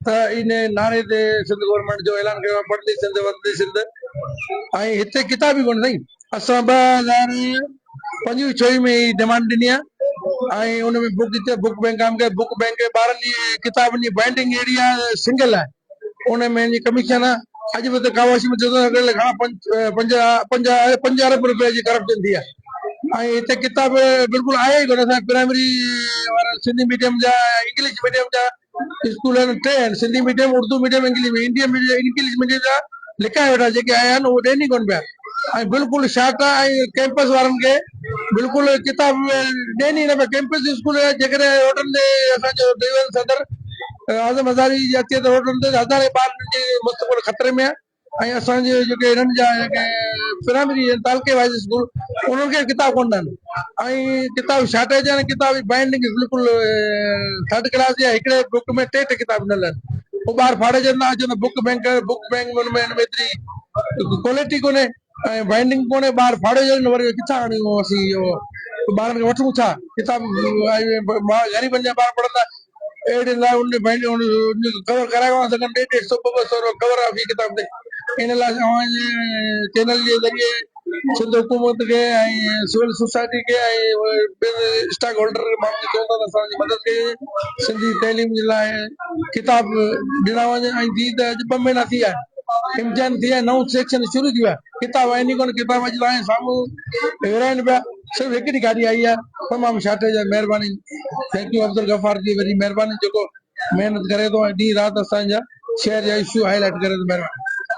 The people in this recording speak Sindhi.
ته انهيء نعري تي سنڌ گورنمينٽ جو اعلان ڪيو ويو پڙهندي سنڌ وڌندي سنڌ ۽ هتي ڪتاب ئي ڪونهي سائين. اسان ٻه هزار پنج وي ڇهه ۾ هي ڊيمانڊ ڏني آهي ۽ ان ۾ بوڪ جي بوڪ بينڪ قائم ڪئي بوڪ بينڪ جي ٻارهن جي ڪتابن جي بائينڊنگ اهڙي آهي سنگل آهي ان ۾ جي ڪميشن آهي اڄ به هتي ڪاواشي ۾ ڏسندو ته گهڻا پنج پنج پنج پنج ارب رپيا جي ڪرپشن ٿي آهي. ۽ هتي ڪتاب بلڪل آهي ئي ڪونه، اسان پرائمري وارا سنڌي ميڊيم جا ۽ انگلش ميڊيم جا اسڪول آهن ٽي آهن Sindhi medium Urdu medium English medium English medium جا لڪايا ويٺا آهن جيڪي آيا آهن اهي ڏين ئي ڪونه پيا ۽ بلڪل شاٽا ۽ ڪيمپس وارن کي بلڪل ڪتاب ڏين ئي نه پيا ڪيمپس اسڪول جيڪڏهن روڊن تي اسان جو ڊويزن صدر اعظم هزاري جي اچي ته روڊن تي هزارين ٻار مستقبل خطري ۾ آهي ۽ اسان جي جيڪي هنن جا جيڪي پرائمري ۽ تعلقي وائيز اسڪول انهن کي ڪتاب ڪونه ڏن ۽ ڪتاب شارٽيج آهن ڪتاب جي بائينڊنگ بلڪل ٿرڊ ڪلاس جي آهي هڪڙي بڪ ۾ ٽي ٽي ڪتاب ڏنل آهن پوء ٻار ڦاڙجن ٿا اچن ته بڪ بئنڪ بڪ بئنڪ ۾ ان ۾ ايتري ڪوالٽي ڪونهي ۽ بائنڊنگ پوڻي ٻاهر ڦاڙي ويو نه وري ڪٿان آڻيون اسين اهو ٻارن کي وٺون ڇا ڪتاب غريبن جا ٻار پڙهندا اهڙي لاء ان بائنڊنگ ڪور ڪرايو آهي تقريبن ڏيڍ ڏيڍ سؤ ٻه ٻه سؤ روپيا ڪور آهي في ڪتاب تي ان لاء اوهان جي چينل جي ذريعي سنڌ حڪومت کي ۽ سول سوسائٽي کي ۽ اسٽاڪ هولڊر ماڻهن کي چئون ٿا ته اسان جي مدد ڪجي سنڌي تعليم جي لاء ڪتاب ڏنا وڃن ۽ جي ته اڄ ٻه مھينا ٿي ويا آھن امتحان ٿي ويا آھن نئون سيڪشن شروع ٿي ويو آھي ڪتاب آھن ئي ڪونه ڪتاب اڄ تائين سامھون ورھائين پيا صرف ھڪڙي گاڏي آئي آھي تمام شارٽيج آھي مھرباني ٿينڪ يو عبدالغفار جي وڏي مھرباني جيڪو محنت ڪري ٿو ۽ ڏينھن رات اسان جا شھر جا اشو ھائي لائٽ ڪري ٿو مھرباني